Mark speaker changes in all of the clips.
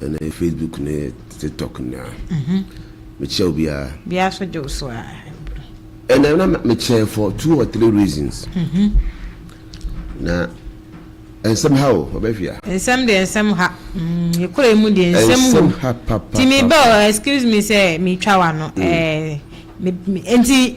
Speaker 1: Ɛnɛ Facebook ne TikTok nyinaa mekyia obiara. Biara so
Speaker 2: gye wo so a. Ɛnɛ
Speaker 1: na mekyɛn for two or three reasons. Na nsɛm ha o ɔbɛhwia. Nsɛm deɛ nsɛm
Speaker 2: ha. Yɛkura mu deɛ nsɛm wu. Nsɛm ha papa. Timi bɛ excuse me sɛ metwa wa no. Nti.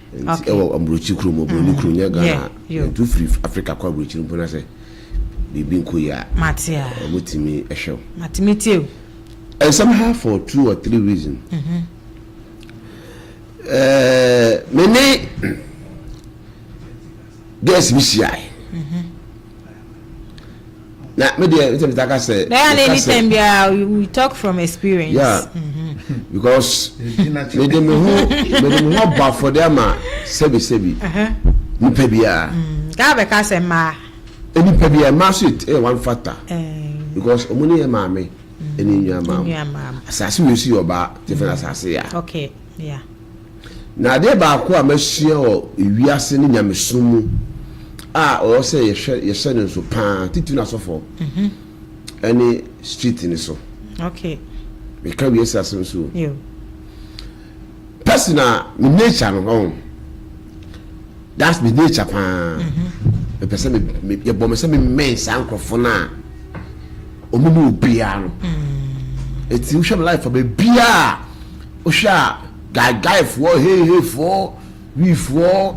Speaker 1: Nti
Speaker 2: ɛwɔ
Speaker 1: aburokyi kuro mu oburoni kuro nyɛ Ghana yeah, yeah. yɛtu firi Africa kɔ aburokyi no mpo na sɛ biribi nkɔ yie a Matea. ɔmo
Speaker 2: tumi ɛhwɛ
Speaker 1: wo Mate me tie o.
Speaker 2: and somehow
Speaker 1: for two or three reason ɛɛ me ne girls bi hyiae na me deɛ sɛ meta ka sɛ bɛyɛ ana anytime biara
Speaker 2: we talk from experience yeah mm-hmm.
Speaker 1: because mede me ho mede me ho bɔ afɔde ama sɛbisɛbi uh-huh. nipa biara mm, gaa bɛka sɛ
Speaker 2: mmaa eh, nipa biara
Speaker 1: mmaa so yɛ eh, one factor eh. because ɔmo ne yɛ maame ɛne mm, nnuamam asase wei so yɛ ɔbaa tefɛn mm. asase ya okay yeah
Speaker 2: Na
Speaker 1: adeɛ baako a masua wɔ wiase ne nyamesom mu a ɔwɔ sɛ yɛhwɛ yɛhyɛ no nso paa titiri no asɔfoɔ mhm. ɛne street no so okay.
Speaker 2: meka
Speaker 1: wiase asɛm so
Speaker 2: pɛsi
Speaker 1: na me nature no ɔn that's me nature paa mhm. mepɛ sɛ yɛbɔ me sɛ memɛn saa nkurɔfoɔ no a ɔmo ne obiara no ɛti mhm. wohwɛ me life a baabiaa Wohwɛ a Gai Gai foɔ, Hei Hei foɔ, Wii foɔ,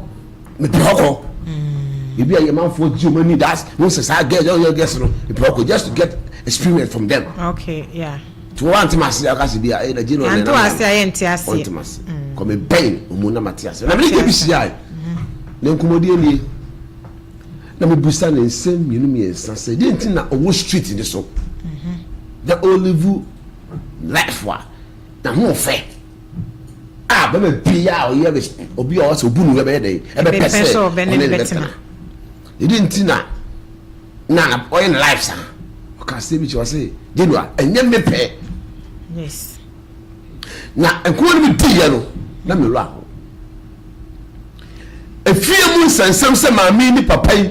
Speaker 1: mepɛ ɔkɔ. Mm. Ebi a yɛ manfoɔ gye ɔmo ani das, mo nsɛ saa girls, yɛ ɔyɛ girls no, mepɛ ɔkɔ just to get experience from them. Okay,
Speaker 2: yeah. To wɔn antem ase
Speaker 1: a ɔkasa bi a ɛyɛ Nigerian na ɛnam nam. Yɛnte ase a yɛnte ase.
Speaker 2: Wɔntem ase. Mm. Kɔ me
Speaker 1: bɛn ɔmo na mate ase. Na mene gye bi hyia yi. Na nkɔmɔdie nie. Na mebusa ne nsɛm mmienu mmiɛnsa sɛ deɛ nti na ɔwɔ street ne so. Mm-hmm. Na olive life a N'ahoɔfɛ a bɛma biaa a ɔyɛ obi a ɔsɛ obu no yɛ bɛyɛ dɛ ɛbɛpɛ sɛ ɔne ne bɛtena ɛdi nti na na ɔyɛ ne life saa ɔka sɛ bi kyɛ ɔse Genoa ɛnyɛ me pɛ na nkɔmɔ no bi diiɛ no na mewura hɔ efie mu nsɛnsɛm sɛ maame ne papa yi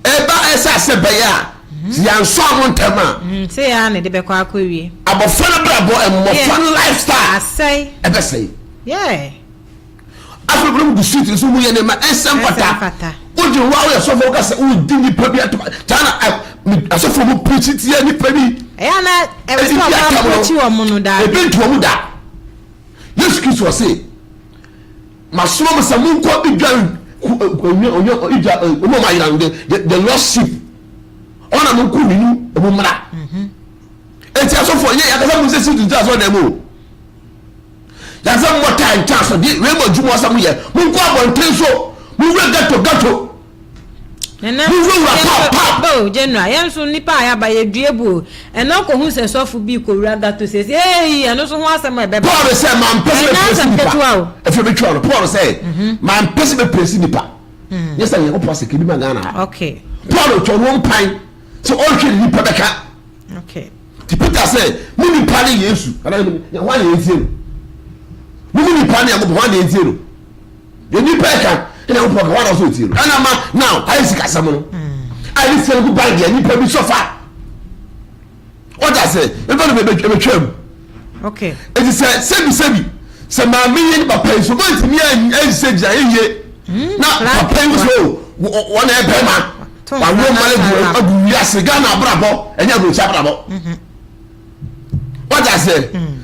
Speaker 1: Ɛba ɛsa sɛ bɛyɛ a, sɛ yɛansɔ ano ntɛm a. Mm, sɛ yɛ ara na ɛde
Speaker 2: bɛkɔ akɔwie. Abɔfra no abrabɔ,
Speaker 1: mmɔfra no lifestyle. Asɛe. Ɛbɛsɛe.
Speaker 2: Yeah.
Speaker 1: Afei bere mu gu street no so mu yɛ nneɛma ɛnsɛ mfata. Ɛnsɛ mfata. Wogye wo a woyɛ sɔfo woka sɛ wodi nipa bi ato China asɔfo mu preach tia nipa bi. Ɛyɛ na
Speaker 2: ɛwɔ sɛ ɔmo approach wɔn no daa. Ebi ntu wɔn da.
Speaker 1: Yesu Kristo ɔse. Masoma mo sɛ monkɔ Idwan ku ɛ ɛ onye onye Idwa ɛ wɔn a wɔn ayera no the the the lost sheep wɔn a monko ne nu ɛ mo mmra eti asɔfo yɛ yakasa mo nsɛ si tuntun asɔ dɛm o yakasa mo taa ntaa asɔ deɛ wei mo adwuma ɔsɛ mo yɛ monkɔ abɔnten so mo wura gato gato.
Speaker 2: Mowura pa pa. Oh general yɛn nso nipa a yaba yɛ dua bu o ɛnna ɔkɔ hu sɛ sɔfo bi kɔ wura gato sɛsi eeyi ɛno nso ho asɛm a ɛbɛba paul sɛ mampɛ sɛ ɛnyɛ
Speaker 1: asɛm ketewa o ɛfɛ bi twɛw no paul sɛ mhm. mampɛ sɛ bɛpɛsi nipa mhm. nyɛ sɛ nyankopɔn sɛ kɛbi ma ghana ha okay. paul
Speaker 2: twɛ no
Speaker 1: mpan sɛ ɔhwɛ ne nipa bɛka okay.
Speaker 2: ti peter sɛ
Speaker 1: mo nipa ne yesu ɛna yɛ ho ayɛ ntie no mo nipa ne nyankopɔn ho ayɛ ntie no Deɛ nipa ɛka ɛna nyankopɔn ɛka wɔn nso etie no ɛna ma now ayɛ sikasɛm no a ɛde sika no gu bank yɛ nipa bi sɔfa ɔda sɛ ɛbɛ no ɛbɛtwa mu
Speaker 2: ɛti sɛ sɛbi
Speaker 1: sɛbi sɛ maame yɛ ne papa yi so wɔn ntumi ɛnsɛ gyina ɛyie hmm, na papa yi so wɔn ɛyɛ bɛrima wɔn wɔn agu wiase ghana abrabɔ ɛnyɛ aburokyi abrabɔ. Mhm. wọ́n ti ase hmm.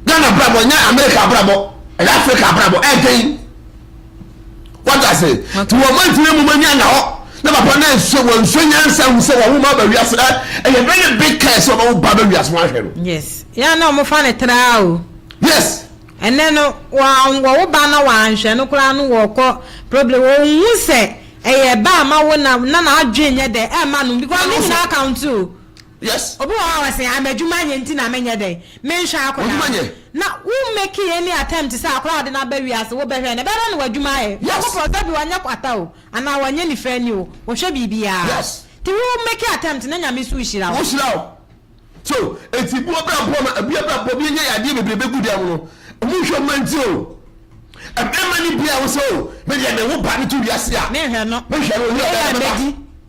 Speaker 1: Ghana abrabọ nyẹ America abrabọ ẹ̀yẹ Africa abrabọ ẹ̀ dẹ́n wọ́n ti ase tí wọ́n mọ ìfúnni mu mọ ní àná hɔ na papa náà nso wọ́n nso yẹn nsa wù sẹ́ wọ́n wọ́n máa bẹ̀ wí ase ẹ̀ ẹ̀yẹ bẹ́ẹ̀ ni big care sẹ́ wọ́n bá bẹ̀ wí ase wọ́n ahwẹ́ no. yes yẹn náà wọ́n
Speaker 2: fa ne tẹ́lá o. yes.
Speaker 1: ɛnɛ no
Speaker 2: wɔn wɔwo ba na wɔn ahwɛ no koraa no wɔkɔ problem wɔn hu sɛ ɛyɛ ba ama wo na na n'adwene nyɛ dɛ ɛma no because ne nyinaa account o. Yes. Obi wɔ
Speaker 1: hɔ a ɔse ah
Speaker 2: m'adwuma nyɛ nti na menyɛ dɛn menhwɛ akwadaa no. W'adwuma nyɛ. Na wo make any attempt sɛ akwadaa a wɔde no aba wiase wo bɛhwɛ no ɛbɛyɛ dɛn na w'adwuma ayɛ. Yes. Nyankopɔn sɛ bi wanyɛ kwata o anaa wanyɛ nifra ni o ɔhwɛ biribiaa. Yes. Nti wo
Speaker 1: make
Speaker 2: attempt na Nyame so hyira wo. Ɔhyira wo.
Speaker 1: So nti boɔ bra boɔ ma ɛbia bra boɔ bi ɛnyɛ yadeɛ bebree bɛ gu dɛm no ɔmo nhwɛ ɔmo nti o. Ɛbɛma ni bia wo sɛ o medeɛ me wo ba no to wiase a. Menhwɛ no. Menhwɛ no ɔnyɛ
Speaker 2: ɔbɛyɛ mɛba.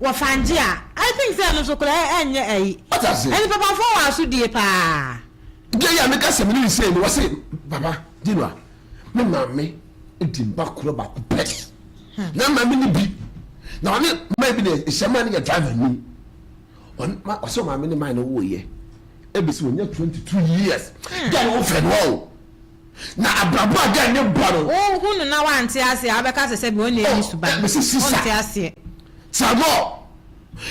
Speaker 2: wɔ fangye a I think sɛ ɛno nso koraa ɛnyɛ ayi. Wate aseɛ? Ɛne papafoɔ wɔ asodie paa. Deɛ yɛ a meka
Speaker 1: sɛ mene no sei no wɔse papa Gino a me maame di mma korɔ baako pɛ na mma me ne bi na ɔne mma bi na ɛhyɛ mma no yɛ driver ni ɔsɛ ɔmaame ne mma no woyɛ ɛbɛsi wɔnya 22 years gya ne wo fɛ no ɔo Na abrabɔ a dɛn ne bɔ no? Wo hu no na wante
Speaker 2: aseɛ a wo bɛka sɛ sɛbi ɔnni ɛni suban oh, ɔnte aseɛ. Trabɔ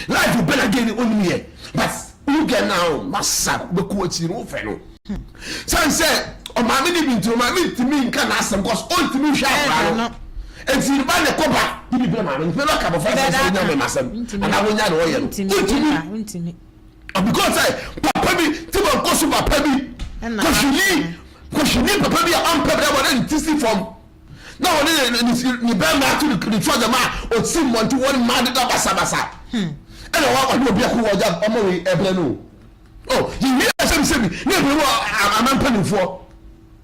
Speaker 1: life ɔbɛ na dɛn ni ɔnim yɛ but wo gɛ na o ma sa bɛkɔ akyiri no wo fɛ no. Sɛn sɛ ɔmaame ni bi ntino maame ntimi nka na asɛm kɔs ɔntimi nhwɛ akora no ɛti ba ne kɔ ba bibi bɛ maame ntimi bɛ ka bɔfra sɛ sɛ wonya mɛ masɛm anaa wonya na ɔyɛ no ɔntimi.
Speaker 2: Because
Speaker 1: sɛ papa bi ti ma nkɔ so papa bi kɔhwini kɔhwini papa bi a ɔmpɛ bɛrima na ne ti si fam na wɔne ne ne ne bɛrima ato ne ne twa gyama a ɔsi mmɔnten wɔn mmaa deda basabasa hmm. ɛna wɔn ɔne obi ako wɔn gya ɔmo wei ɛbrɛ no o oh, yɛwie asɛm sɛbi ne ebire wɔ aman mpanimfoɔ.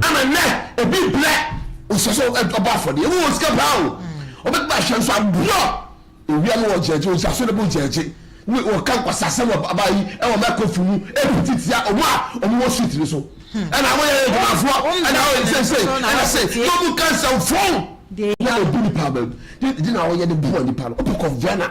Speaker 1: Ɛna nnɛ obi brɛ ɔsɛ sɛ ɔbɔ afɔdeɛ ɛmu wɔ sika paa o ɔbɛtumi ahyɛ nso aborɔ ewia no ɔgyɛgye ɔgyaso no bo gyɛgye ne ɔka nkwasasɛm wɔ aba yi ɛwɔ mɛkɔfi mu ɛpiti tia ɔmo a ɔmo wɔ street no so ɛna ɔmo yɛ adwumafoɔ ɛna ɔyɛ nsɛnsɛn ɛna se na ɔmo ka nsɛmfoɔ na ɔbu nipa bɛm ɛdi na ɔyɛ de boɔ nipa no ɔpɛ kɔ Vienna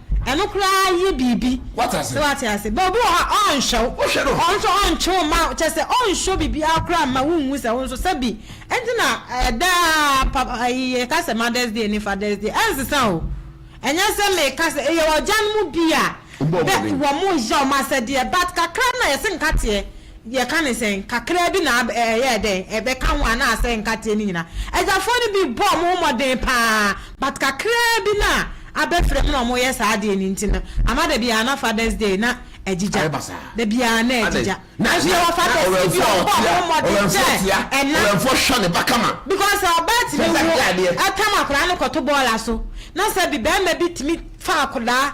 Speaker 2: Ɛno koraa yɛ biribi. Wate ase? So wate ase?
Speaker 1: But obi wɔ hɔ a,
Speaker 2: ɔrenhwɛ wo. Wohwɛ no. Ɔno nso ɔntwe wo mma, kyerɛ sɛ ɔnnsɔ biribiara koraa mma wonhu sɛ wo nso sɛbi. Ɛnti na ɛda a papa ayi yɛka sɛ Mother's Day ne Father's Day, ɛnsesa o. Ɛnyɛ sɛ meka sɛ yɛwɔ agyanom bi a, bɛ wɔn yɛ wɔn asɛdeɛ but kakra no na yɛse nkateɛ. Yɛka no sɛn? Kakraa bi na ab ɛyɛɛ dɛn? Ɛbɛka ho a na asɛe nkateɛ no nyina. Agyafoɔ no bi bɔɔ ɔmo ho mmɔden paa but kakraa bi na abɛfrɛ mu na ɔmo yɛ saa adeɛ no nti no ama da biaa na Father's day na agyigya. Da biaa na agyigya. Nanso yɛwɔ fathers no bi a ɔmo bɔɔ ɔmo ho mmɔden sɛ ɛna
Speaker 1: because sɛ ɔbaa tumi
Speaker 2: wu ɛtam akwadaa no kɔto bɔɔla so na sɛbi bɛɛma bi tumi fa akwadaa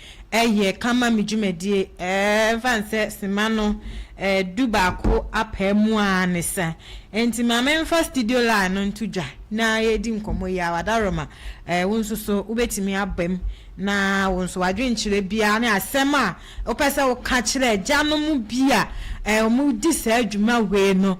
Speaker 2: Ɛyɛ ka ma me dwumadie ɛfa ne sɛ sima no du baako apaa mu a ne sa nti ma me nfa studio line no nto dwa na yɛdi nkɔmmɔ yi awa Daroma wo nso so wo bɛtumi aba mu na wo nso w'adwenkyerɛ biara ne asɛm a wo pɛ sɛ wo ka kyerɛ agya no mu bi a wɔn di saa dwuma wei no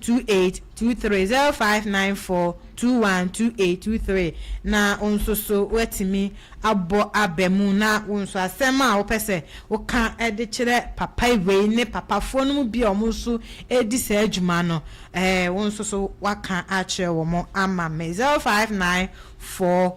Speaker 2: two eight two three zero five nine four two one two eight two three na wo nso so woatumi abɔ aba mu na wo nso asɛm a wopɛ sɛ woka de kyerɛ papa wei ne papafoɔ no mu bi a wɔn nso redi saa adwuma no eh, wo nso so woaka akyerɛ wɔn ama me zero five nine four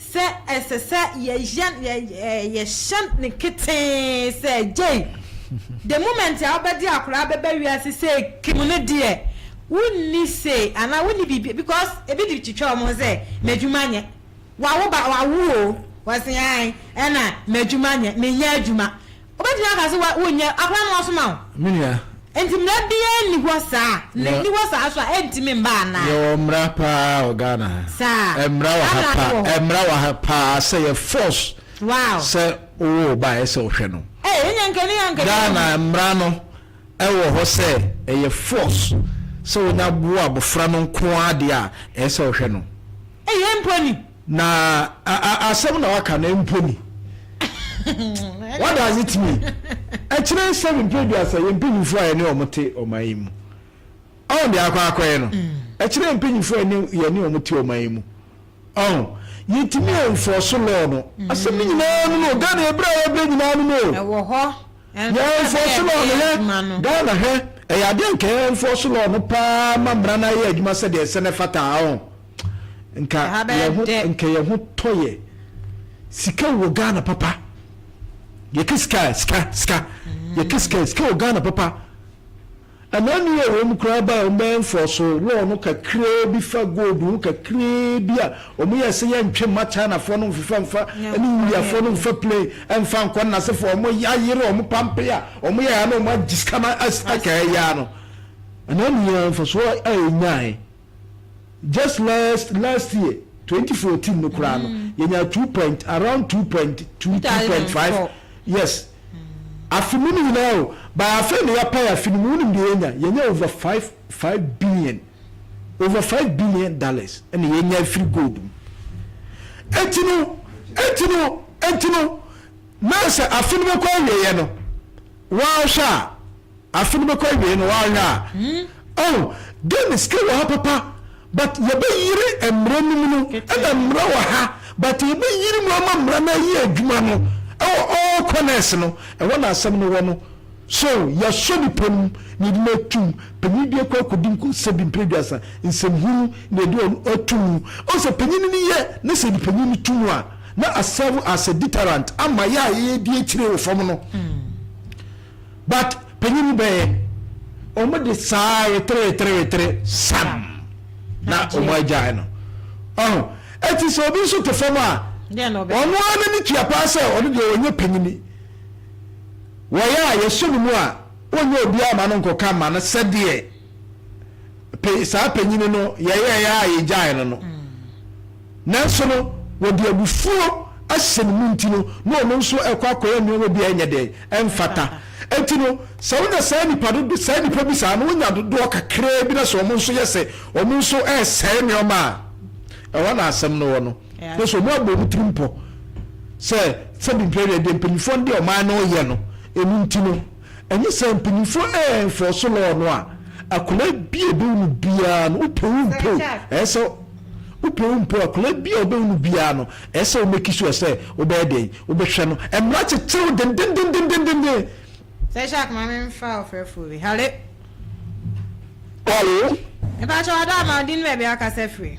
Speaker 2: Sɛ ɛsɛ sɛ yɛyɛn yɛyɛɛ yɛhyɛ no ketee sɛ gyei the moment a wobɛde akwadaa bɛba wiase sɛ kim no deɛ wonni say anaa wonni biribi because ebi de twitwa wɔn ho sɛ m'adwuma nyɛ wawo ba wawo o wɔse ae ɛna m'adwuma nyɛ menyɛ adwuma Wobɛtumi aka sɛ wonyɛ, akora na wɔasoma wo. Me nua. Enti
Speaker 3: mmara biara
Speaker 2: nni hɔ saa? Na ɛnni hɔ saa nso a, ɛntumi mma anaa? Yɛwɔ mmara paa
Speaker 3: wɔ Ghana ha. Saa? Mmara wɔ
Speaker 2: ha paa.
Speaker 3: Mmara wɔ ha paa sɛ yɛ force sɛ
Speaker 2: wowo wo
Speaker 3: ba a, ɛyɛ sɛ wohwɛ no. Ei, ɛnneɛ anka ɛnni ha anka ɛnni
Speaker 2: ha. Ghana mmara
Speaker 3: no wɔ hɔ sɛ ɛyɛ force sɛ wonya wo abɔfra no nko ara deɛ a, ɛyɛ sɛ wohwɛ no. Ei, ɛmpo ni?
Speaker 2: Na
Speaker 3: a a asɛm na waka na mpo ni. What does it mean? Ɛkyerɛ sɛ mpɛ aduasa yɛ mpanyinfoɔ a yɛne wɔn te ɔman yi mu. Ɔn deɛ akɔ akɔyɛ no. Ɛkyerɛ mpanyinfoɔ a yɛne wɔn te ɔman yi mu. Ɔn yɛntumi ɛnfɔɔso law no. Asɛm no nyinaa no no Ghana ɛbrɛ a yɛbrɛ nyinaa no no. Ɛwɔ hɔ.
Speaker 2: Yɛ ɛnfɔɔso
Speaker 3: law no hɛ. Ghana hɛ. Ɛyɛ adeɛ nka yɛ ɛnfɔɔso law no paa ma mmara no ayɛ adwuma sɛdeɛ ɛsɛ na ɛfata ɔn. Nka yɛn ho nka yɛn ho tɔ yɛ. Sika wɔ Ghana papa. Yɛka sika sika sika. Mm. Yɛka sika sika wɔ Ghana papa. Ɛna ni wɔ wɔn koraa ba wɔn bɛn fɔ so lɔɔ no kakraa bi fa gold ho kakraa bi a wɔn yɛ sɛ yɛn ntwe mma Chinafoɔ no nfefa nfa ɛne Indiafoɔ no nfa plane ɛnfa nkɔ nnasefo wɔn yɛ ayere wɔn pampe a wɔn yɛ ya na wɔn agye sika no ɛsɛ ɛkɛɛ ya no. Ɛna ni yɛn nfa so a yɛn nyae. just last last year twenty fourteen no koraa no mm. yɛnya two point around two point two two point five yes mm. afe mu no nyinaa o by afei na yɛapae afe no mu wonim deɛ yɛnya yɛnya over five five billion over five billion dollars ɛna yɛnya afiri gold mu ɛnti no ɛnti no ɛnti no na sɛ afe no bɛkɔ awieɛ no Woahwɛ a, afe no bɛkɔ awiei no, woanhwɛ a, oh, dear me sika wɔ ha papa, but yɛbɛyere mmara no mu no, ɛna mmara wɔ ha, but yɛbɛyere mu ama mmara no ayɛ adwuma no, ɛwɔ all corners no, ɛhɔ na asɛm no wɔ no. So, yɛasɔ nnipa mu na yɛde no atum, panyin bi akɔ akɔdi nkonsɛbi mprɛduasa, nsɛmhunu na yɛde ɔno atum, wohu sɛ panyin no yɛ ne sɛ yɛde panyin no to mu a, na asɛve as a deterrent ama yɛ a yɛyɛ di akyire wɔ fam no but panyin no bɛyɛ wɔn de saa wetere wetere wetere sam na wɔn agyae no ɔho ɛti sɛ obi nso te fam a ɔno ara n'ani tua paa sɛ ɔno deɛ ɔnyɛ panyin wɔyɛ a yɛhyɛ no mu a ɔnyɛ obiara ma no nkɔka ma no sɛdeɛ saa panyin no yɛyɛ yɛ a yɛgyae no no. Nanso no, wɔde abufuo ahyɛ ne mu nti no, na ɔno nso rekɔ akɔyɛ nneɛma bi a ɛnyɛ dɛn, ɛmfata. Enti no, sɛ wonya saa nnipa dodo, saa nnipa bi saa no, wonya dodoɔ kakraa bi na sɛ wɔn nso yɛ sɛ wɔn nso resɛe nneɛma a, ɛhɔ na asɛm no wɔ no. Na sɛ wɔabɔ wɔn tirim pɔ sɛ sɛdeɛ mprɛnɛ deɛ mpanimfoɔ no de ɔman no reyɛ no, ɛno nti no, Ɛnyɛ saa mpanyimfo ɛnfɔɔso lɔɔ no a akwadaa bi a ɔbɛwu no biara no wopɛ wo mpɛ o ɛyɛ sɛ wopɛ wo mpɛ o akwadaa bi a ɔbɛwu no biara no ɛyɛ sɛ womɛki so ɛsɛ wobɛyɛ dɛn wobɛhwɛ no mmara kyekyere wo dendendendendenden. Sɛ hyɛ
Speaker 2: akoma me nfa ɔfrɛfoɔ bi hale. Hello.
Speaker 4: Mepakyɛw ada ama
Speaker 2: wo din ne baabi a wokasa firi.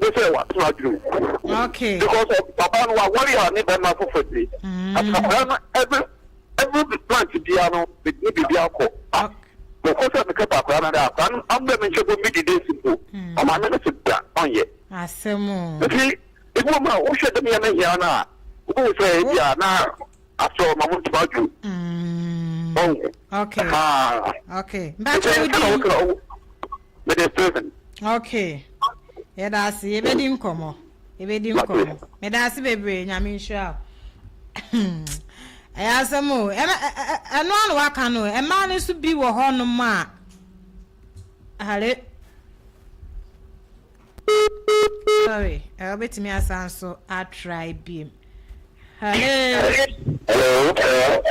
Speaker 4: gye sɛ watena adwene
Speaker 2: mu. Okay. Because of papa
Speaker 4: no wawari a ne bɛma foforɔ ti. Mm. Akwadaa no every every plant biara no ne biribi akɔ. Mekɔ sɛ mekɛ pa akwadaa no dɛ akwadaa no amuna mi nkyɛn bɔ mi di desi mpo. Ɔmaa mi ne se da ɔnyɛ. Asɛm o. Nti
Speaker 2: ebi wɔ
Speaker 4: mu a wohwɛ dɛm yɛ ne hia no a wobɛhu sɛ ebi a na asɔ ɔma mo ntoma adwo. Mm. Okay.
Speaker 2: Okay. Mbɛkyɛ wo di.
Speaker 4: Mede prison. Okay.
Speaker 2: Yɛda ase. Yɛbɛdi nkɔmmɔ. Yɛbɛdi nkɔmmɔ. Meda ase bebree. Nyame nhyira wo. Ɛyɛ asɛm o. Ɛno ano waka no. Mmaa no nso bi wɔ hɔnom a. Hare. Sorry, eh, wobɛtumi asan nso atry biem. Hello.
Speaker 4: Hello. Hello.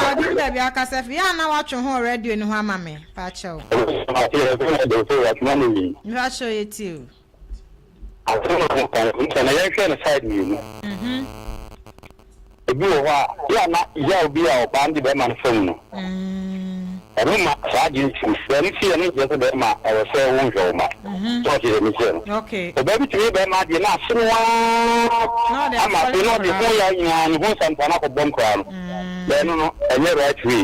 Speaker 2: Ɔde mu dabi akasa fi yɛ ana watwe ho radio no ho ama me paakyɛw. Mpakyɛw yɛ ti o.
Speaker 4: Asɛm a mo kan, mo sɛ na yɛnhwɛ no side mmienu. Ebi wɔ hɔ a, yɛ a na yaw bi a ɔbaa no dze bɛrima no famu no, ɔno ma saa adze no tsim. Dɛm ntsi yɛ no nnkyerɛ dɛ bɛrima a ɔwɔ sɛ wonnhwɛ wo mba. So ɔtse dɛm ntsi no, ɔbaa bi tum yɛ bɛrima
Speaker 2: adze
Speaker 4: na asen wo ara ama afei no ɔdze ho yaw nyina, no ho nsɛmpɔw no akɔbɔ no koraa no, dɛm no no, nnyɛ right way.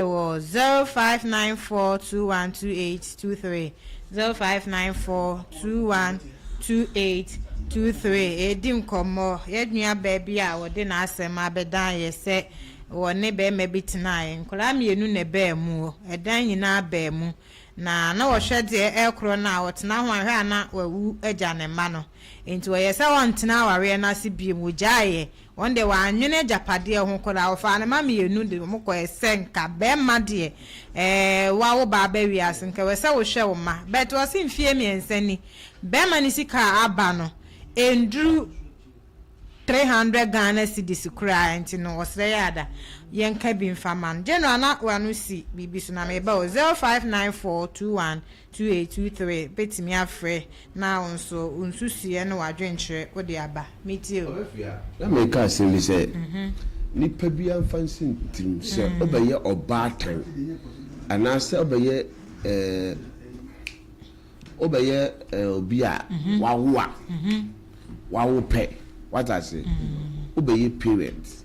Speaker 2: Ɛwɔ zero five nine four two one two eight two three zero five nine four two one two eight two three Yɛredi nkɔmmɔ. Yɛn nuabaa bi a ɔde n'asɛm abɛdan yɛ sɛ ɔne barima bi tenaeɛ. Nkwadaa mmienu na ɛbaa mu. Ɛdan nyinaa baa mu. Na na wɔhwɛ deɛ ɛkorɔ no a, ɔtena ho a, hwɛ a na wawu agya ne mma no. Enti ɔyɛɛ sɛ ɔrentena awareɛ no ase bio. Ɔgyaeeɛ. Wɔn deɛ w'annwene agyapadeɛ ho koraa ɔfaa ne mma mmienu de wɔn kɔɛ sɛ nka bɛɛma deɛ ɛɛ w'awo baa bɛ wiase nka wɛsɛ wo hwɛ wo mma but ɔse mfie mmiɛnsa ni bɛɛma ne sika a aba no ɛnduru three hundred Ghana cedis koraa ɛnti no ɔsrɛ yɛ ada yɛ nka bi nfa ma no General na w'ano si biribi so na meba o zero five nine four two one 2A23 bɛtumi afrɛ na wo nso wo nsusuiɛ ne w'adwenkyerɛ wode aba. Metie o. Na meka asɛm
Speaker 1: bi sɛ, nipa biara mfa nsi ne tirim sɛ ɔbɛyɛ ɔbaatan anaasɛ ɔbɛyɛ ɔbɛyɛ obi a wawo a wawo pɛ, wate aseɛ, ɔbɛyɛ parent.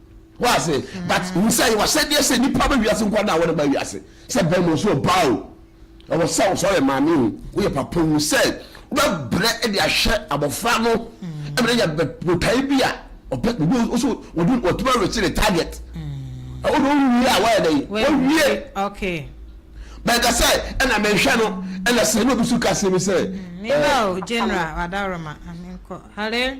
Speaker 1: Wɔ ase, but mm. hu sɛ yɛwɔ ahyɛdeɛ sɛ nipa bɛ wiase nkwa na wɔde ba wiase sɛ bɛrima nso ɔbaa o ɛwɔ sɛ wɔ sɛ ɔyɛ maame o woyɛ papa hu sɛ wobɛbrɛ de ahwɛ abɔfra no mm. ɛmɛ yɛ botae bi a ɔpɛ obi nso wɔde wɔtuma rekyɛ ne target mm. ɛwɔ de wɔwie a wɔyɛ dɛ wɔwie
Speaker 2: bɛnka
Speaker 1: sɛ ɛna mɛnhwɛ no ɛna sɛ ɛna obi so ka sɛ mi sɛ ɛɛ.
Speaker 2: general adaroma amikɔ hare.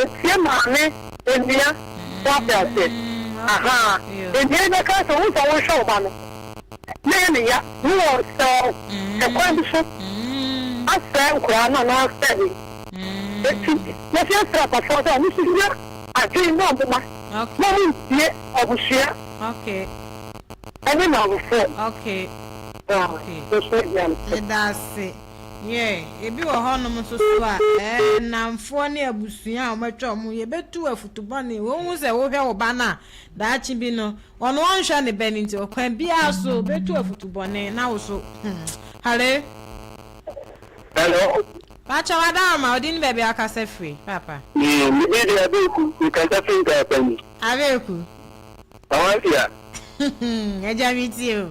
Speaker 4: Otie maame onua so ate ase ahaa onua yi bɛka sɛ wohu sɛ wonhwɛ wo ba no na ɛyɛ ne ya ne wɔ sɛ ɔ hwɛ kwan bi so asɛe nkoraa no anaa sɛ he eti yɛse yɛsrɛ apafoɔ sɛ ɔmo so nya adwen na ɔmo ma na ɔmo ntie abusua ɛne namfoɔ ɔ ɔsua biara.
Speaker 2: Yɛɛ. Ebi wɔ hɔnom nso so a, ɛɛ, nnamfoɔ ne abusua a wɔatwa wɔn ho, yɛbɛtu wo afutu bɔne. Wonhu sɛ wohwɛ wo ba no a, daakye bi no, ɔno ɔnhwɛ ne bɛ no nti, ɔkwan biara so ɔbɛtu afutu bɔne, na wo so, hmm. Hallel. Hello.
Speaker 4: Pakyɛ
Speaker 2: w'adaoma, wo din ne baabi a wokasa firi, Papa? Me, me din de
Speaker 4: Abeku, me kasa firi Nkaapani. Abeku.
Speaker 2: Awansia. Agya metie o.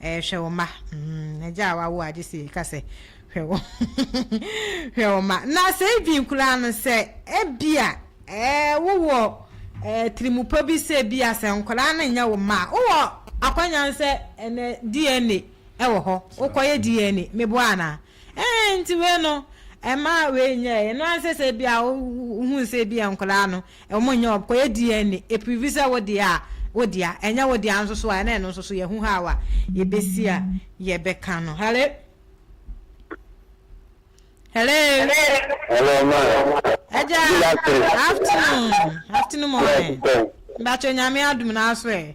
Speaker 2: Eh, hwɛ wo mma. Mm, agya a wawo a gye sɛ yɛka sɛ, hwɛ wo, hwɛ wo mma. Na sɛ even koraa no, sɛ ebia eh, wowɔ eh, tirimupɔ bi sɛ ebia sɛ nkwadaa no nyɛ wo mma a, wowɔ akwannya sɛ ɛnɛ DNA wɔ hɔ, wokɔyɛ DNA. Meboa anaa? Eeh nti wei no ɛma wei nyɛɛ ɛno ara sɛ sɛ bia wohuu sɛ bia nkwadaa no wɔn nyɛ wɔn kɔyɛ DNA ɛprivi sɛ wo deɛ a wo dea ɛnyɛ wo dea nso so a ɛna ɛno nso so yɛhu how a yɛbɛsi a yɛbɛka no hello hello hello
Speaker 4: ma ɛgya afternoon
Speaker 2: afternoon mɔmɛ mbatwɛ nyame adum no aso ɛ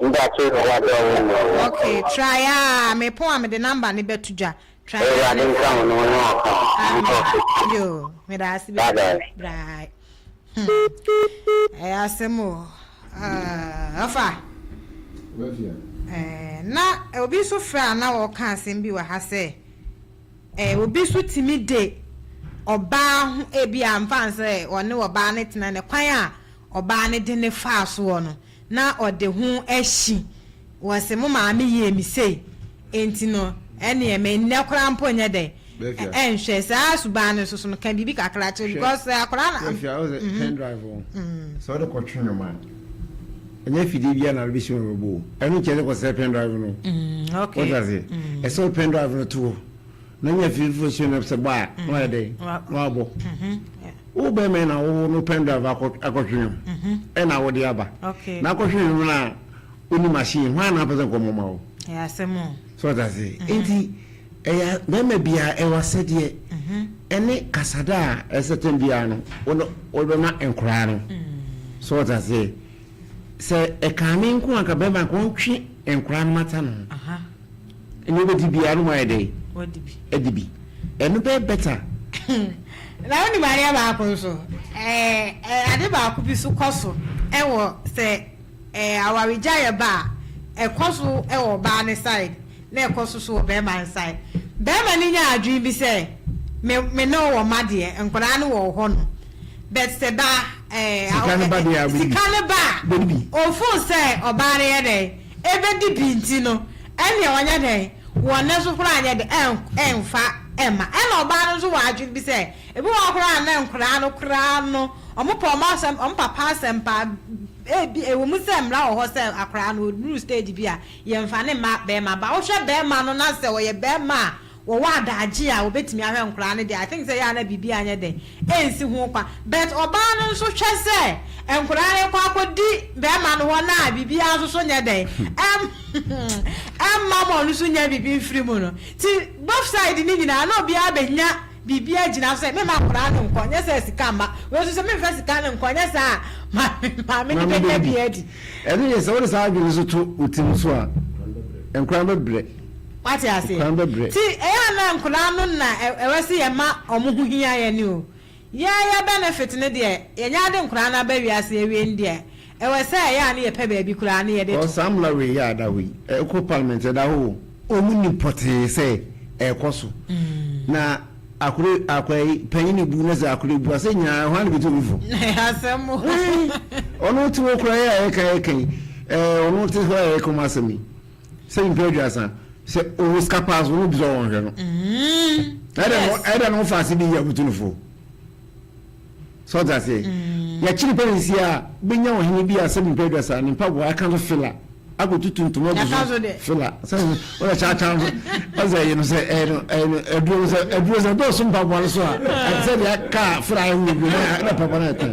Speaker 2: Nda kyɛn na wɔabrɛ wo mbrɛ wo wɔ kɔ no. Okay try aa mepon a mede number no bɛto dwa try aa Ewurade ne nka frɛ wo na me ɔnye wo nka wo Amen nkorɔfo. yoo medaase Bye bebree bye. bry hmm ɛyɛ asɛm o aah ɔfa ɛɛ na obi so frɛ a na ɔɔka asɛm bi wɔ ha sɛ ɛɛ obi so tumi de ɔbaa ho ebi a mfa nsɛ ɔne ɔbaa ne tena ne kwan a ɔbaa ne de ne faa soɔ no na ɔde ho ahyi, wɔse mo maame yɛɛ me sei, enti no ɛneɛ me nnɛ koraa mpo nyɛ dɛ nhwɛ saa suban no soso no, ka biribi kakra kyerɛ no because sɛ akwadaa no. Bɛfia wo sɛ pen drive
Speaker 5: no sɛ wode kɔ twe nwoma a, ɛnyɛ afidie biara na wode bɛsi nwoma bɛbɔ o, ɛno nkyɛn sɛ kɔ sɛ pen drive no, wote
Speaker 2: aseɛ,
Speaker 5: ɛsɛ wo pen drive no to hɔ. Na nya fie foforo sua na sɛ bɔ a na wayɛ dɛn na wabɔ wo bɛrima yi na wowo no pen drive akɔtwe nwom ɛna wode aba na akɔtwe nwom
Speaker 2: no a
Speaker 5: woni machine hwan na apɛ sɛ nkɔmmɔ ma wo
Speaker 2: sɛ ɔte ase
Speaker 5: nti ɛyɛ bɛrima biara ɛwɔ asɛdeɛ ɛne kasada a ɛsɛ tɛm biara no wode bɛma nkoraa no sɛ ɔte ase sɛ ɛkane nko anka bɛrima nka ɔntwe nkoraa no mata no Nea obedi biara no wayɛ dɛn? Wadi bi. Adi bi. Ɛno bɛyɛ better. Na
Speaker 2: wonim adeɛ baako nso, ɛɛ, ade baako bi nso kɔ so wɔ sɛ ɛɛ awaregyaeɛ ba a, ɛkɔ so wɔ ɔbaa no side na ɛkɔ so nso wɔ barima no side. Barima no nya adwene bi sɛ, me, me ne wo wɔ mma deɛ, nkwadaa no wɔ wo hɔ no. But sɛ ba, ɛɛ, sika no ba
Speaker 5: deɛ a, sika no ba a, ɔfo
Speaker 2: sɛ ɔbaa no yɛ dɛn? Ebedi bi nti no, ɛnneɛ wɔnyɛ dɛn? Wɔn nne so koraa nyɛ dɛ, ɛmfa mma. Ɛnna ɔbaa no nso wɔ adwene bi sɛ, ebi wɔ hɔ koraa a na nkwadaa no koraa no, wɔpɛ wɔn asɛm, wɔn papa asɛm paa. Ebia, ɛwɔ mu sɛ mmara wɔ hɔ sɛ akwadaa no, ɔduru stage bi a, yɛmfa ne mma barima. Ba, wohwɛ barima no na sɛ ɔyɛ barima a, wɔwɔ adagye a wɔbɛtumi ahwɛ nkwadaa no deɛ I think sɛ ɛyɛ a na biribi anyɛ dɛn ɛnsi ho kwan but ɔbaa no nso hwɛ sɛ nkwadaa no rekɔ akɔdi barima no hɔ no a biribiara nso so nyɛ dɛn ɛm ɛmma ma ɔno nso nya biribi mfiri mu no nti both side no nyinaa na obiara bɛnya biribi agyina sɛ mema nkwadaa no nkɔ nyɛ sɛ sika mma wei nso sɛ memfa sika no nkɔ nyɛ saa a maame no bɛnya bi adi. Ɛno yɛ sɛ wode saa
Speaker 5: adwene nso to wo tirim nso a nkwadaa no bɛbrɛ. Wate aseɛ?
Speaker 2: Kwan bɛbrɛ. Nti ɛyɛ a na nkwadaa no na ɛwɛ sɛ yɛma wɔn ho hia yɛn o. Yɛn yɛn benefit no deɛ, yɛnya ade nkwadaa no aba wiase awie no deɛ, ɛwɔ sɛ ɛyɛ a na yɛpɛ baabi koraa na yɛde to. Ɔɔ saa mmara wei yɛ a da
Speaker 5: hɔ yi, ɛkɔ parliament a, ɛda hɔ o. Wɔn nim pɔtee sɛ ɛrekɔ so. Na akore akwa yi, panyin ebu na sɛ akore ebu a, sɛ nyinaa hwan na bɛtu obi fo? Asɛm o. Ae, ɔno te hɔ koraa yi a yɛka yɛka yi, ɛɛ ɔno te hɔ a yɛka wɔn asɛm yi. sɛ nyimpa eduasa sɛ ɔwɔ sika paa so wɔn obi sɛ wɔnhwɛ no ɛdɛ no ɛdɛ no fa ase de yi abutu no fo sɛ ɔte aseɛ yɛkye nipa ne nsi a bɛnya ɔhene bi a sɛ nyimpa eduasa ne mpaboa aka so fila akɔtutu ntoma agu so fila sɛ ɔyɛ kyaakyaa no ɔsɛ ɛyɛ no sɛ ɛyɛ no ɛyɛ no aduro no sɛ aduro sɛ dɔɔso mpaboa no so a sɛ deɛ aka fila ayɛ wɔ bi na mpaboa no ɛtɛn.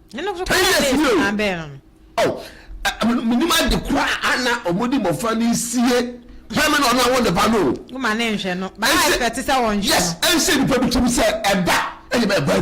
Speaker 2: Ten years ni o. Oh, menim
Speaker 1: ade kura ana ɔmo de bɔfra ne sie pɛmɛ na ɔno awo ne ba no. Woma ne nhwɛ
Speaker 2: no.
Speaker 1: Baa
Speaker 2: ɛfɛ
Speaker 1: te sɛ
Speaker 2: wɔn
Speaker 1: nhwɛ no. Yes, ɛnsɛ
Speaker 2: nipa
Speaker 1: bi tumi
Speaker 2: sɛ ɛba ɛyɛ bɛ
Speaker 1: ba